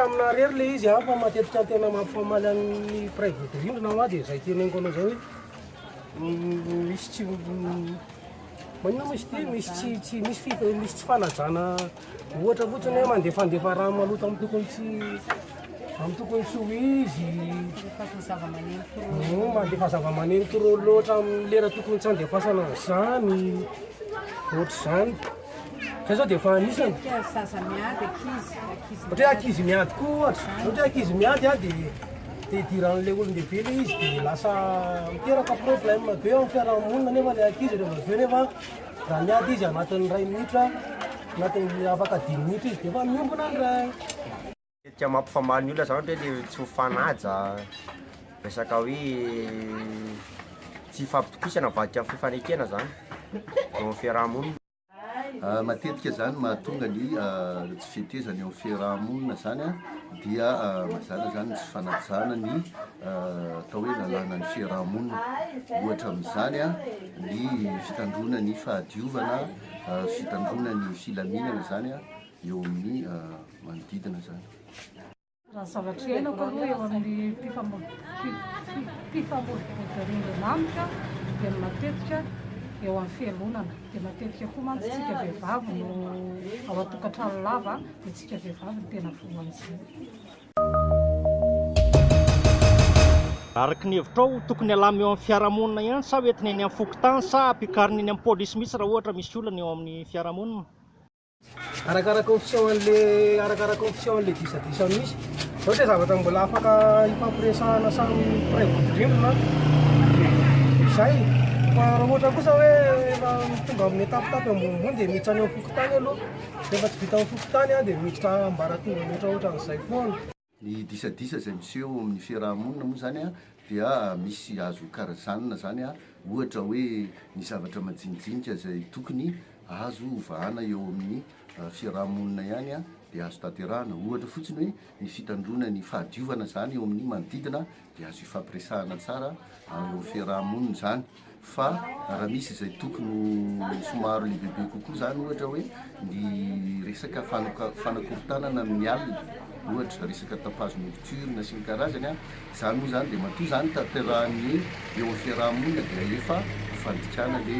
Tamina rery le izy an, fa matetika tena mampifamaly an'ny mpiray vodirindrina hoa dia izay teneniko anao izay hoe misy tsy manina misy ty misy tsy tsy misy fi misy tsy fanajana ohatra fotsiny hoe mandefandefa rano maloto amin'ny tokony tsy amin'ny tokony tsy ho izy mandefa zava-maneno trop loatra amin'ny lera tokony tsy andefasana an'izany ohatr'izany Zay zao dia efa anisany. Ohatra hoe zaza miady, ankizy, ankizy. Ohatra hoe ankizy miady koa ohatra. Ohatra hoe ankizy miady ah, dia te hidiran'ilay olon-dehibe ilay izy dia lasa miteraka problème be eo amin'ny fiarahamonina nefa ilay ankizy rehefa avy eo nefa raha miady izy anatin'ny iray minitra, anatin'ny afaka dimy minitra izy dia efa miombona ny ray. Matetika mampifamaly ny olona zany ohatra hoe le tsy mifanaja, resaka hoe tsy ifampitokisana mivadika amin'ny fifanekena zany eo amin'ny fiaraha-monina. Matetika zany mahatonga ny tsy fetezana eo amin'ny fiaraha-monina zany an, dia mazàna zany ny tsy fanajana ny atao hoe lalàna ny fiaraha-monina, ohatra amin'izany an, ny fitandroana ny fahadiovana, fitandroana ny filaminana zany an eo amin'ny. manodidina izany. Raha ny zavatra iainako aloha eo amin'ny mpifamoivoizan-drian-dRamanitra dia ny matetika eo amin'ny fialonana, dia matetika koa mantsy tsika vehivavy no ao an-tokantrano lava dia tsika vehivavy no tena voan'izay. Araka ny hevitrao, tokony alamy eo amin'ny fiarahamonina ihany sa ho entina eny amin'ny fokontany sa ampiakarina eny amin'ny polisy mihitsy raha ohatra misy olana eo amin'ny fiarahamonina? Arakaraka ny fisehoan'le arakaraka ny fisehoan'le disadisa misy. Zao dia zavatra mbola afaka hifampiresahana samy mpiray vodirindrina izay. Fa raha ohatra kosa hoe efa tonga amin'ny étape-tape ambonimbony dia miditra any amin'ny fokontany aloha. Rehefa tsy vita amin'ny fokontany dia miditra ambaratonga mihoatra ohatran'izay foana. Ny disadisa izay miseho eo amin'ny fiaraha-monina moa izany dia misy azo karazanina izany ohatra hoe ny zavatra majinijinika izay tokony azo hovahana eo amin'ny fiaraha-monina ihany dia azo tanterahana, ohatra fotsiny hoe ny fitandroana ny fahadiovana izany eo amin'ny manodidina dia azo ifampiresahana tsara eo amin'ny fiaraha-monina izany. fa raha misy izay tokony ho somary lehibebe kokoa izany ohatra hoe ny resaka fanoka- fanakorontanana amin'ny alina ohatra resaka tapage nocturne sy ny karazany a izany moa izany dia matoa izany tanterahan'ny hoe eo amin'ny fiaraha-monina dia efa ho fandikana le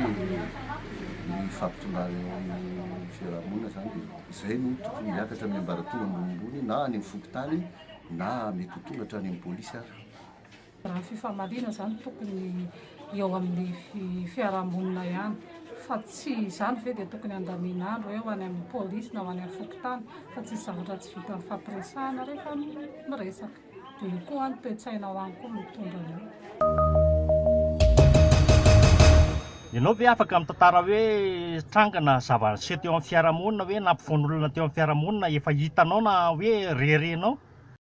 ny fampitondrana eo amin'ny fiaraha-monina izany dia izay no tokony hiakatra amin'ny ambaratonga ambonimbony na any amin'ny fokontany na mety ho tonga hatrany amin'ny polisy ary Raha ny fifamaliana izany tokony eo amin'ny fiarahamonina ihany fa tsy izany ve dia tokony andamin'andro eo any amin'ny polisy na ho any amin'ny fokontany fa tsisy zavatra tsy vitan'ny fampiresahana rehefa miresaka. Dia io koa any toe-tsaina ao any koa no mitondra an'io. Ianao ve afaka mitantara hoe tranga na zava-niseho teo amin'ny fiarahamonina hoe nampifoan'olona teo amin'ny fiarahamonina efa hitanao na hoe rerenao?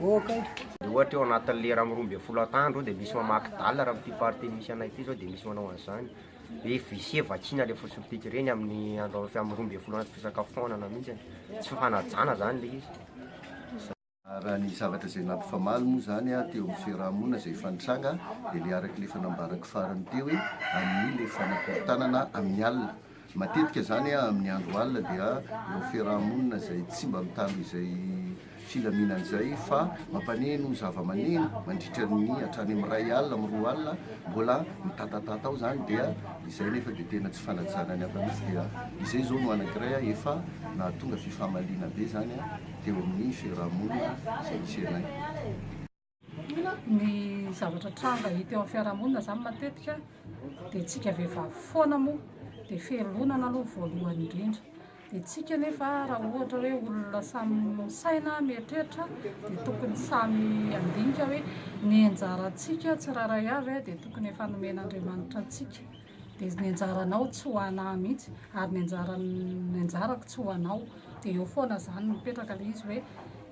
ok. Dia ohatra eo anatin'ny lera amin'ny roa ambin'ny folo atandro dia misy mamaky dala raha amin'ity partie misy anay ity izao dia misy manao an'izany hoe vise vakiana ilay fotsy mipika ireny amin'ny andro amin'ny roa ambin'ny folo anaty fisakafoanana mihitsy tsy fanajana izany ilay izy Raha ny zavatra izay nampifamaly moa izany an, teo amin'ny fiaraha-monina izay efa nitranga dia ilay araka ilay efa nambarako farany teo hoe amin'ny ilay fanakorontanana amin'ny alina. Matetika izany amin'ny andro alina dia ireo fiaraha-monina izay tsy mba mitandro izay filaminana izay fa mampaneno zava-maneno mandritra ny hatrany amin'ny iray alina amin'ny roa alina mbola mitatatata ao izany dia izay nefa dia tena tsy fanajana ny hafa mihitsy dia izay izao no anankiray efa nahatonga fifamaliana be izany teo amin'ny fiaraha-monina izay misy anay. Inona ny zavatra tranga hita eo amin'ny fiarahamonina izany matetika dia tsika vehivavy foana moa dia ferilonana aloha voalohany indrindra dia tsika nefa raha ohatra hoe olona samy misaina mieritreritra dia tokony samy handinika hoe ny anjarantsika tsirairay avy dia tokony efa nomen'Andriamanitra antsika dia ny anjaranao tsy ho anah mihitsy ary ny anjaran'ny anjarako tsy ho anao dia eo foana izany mipetraka ilay izy hoe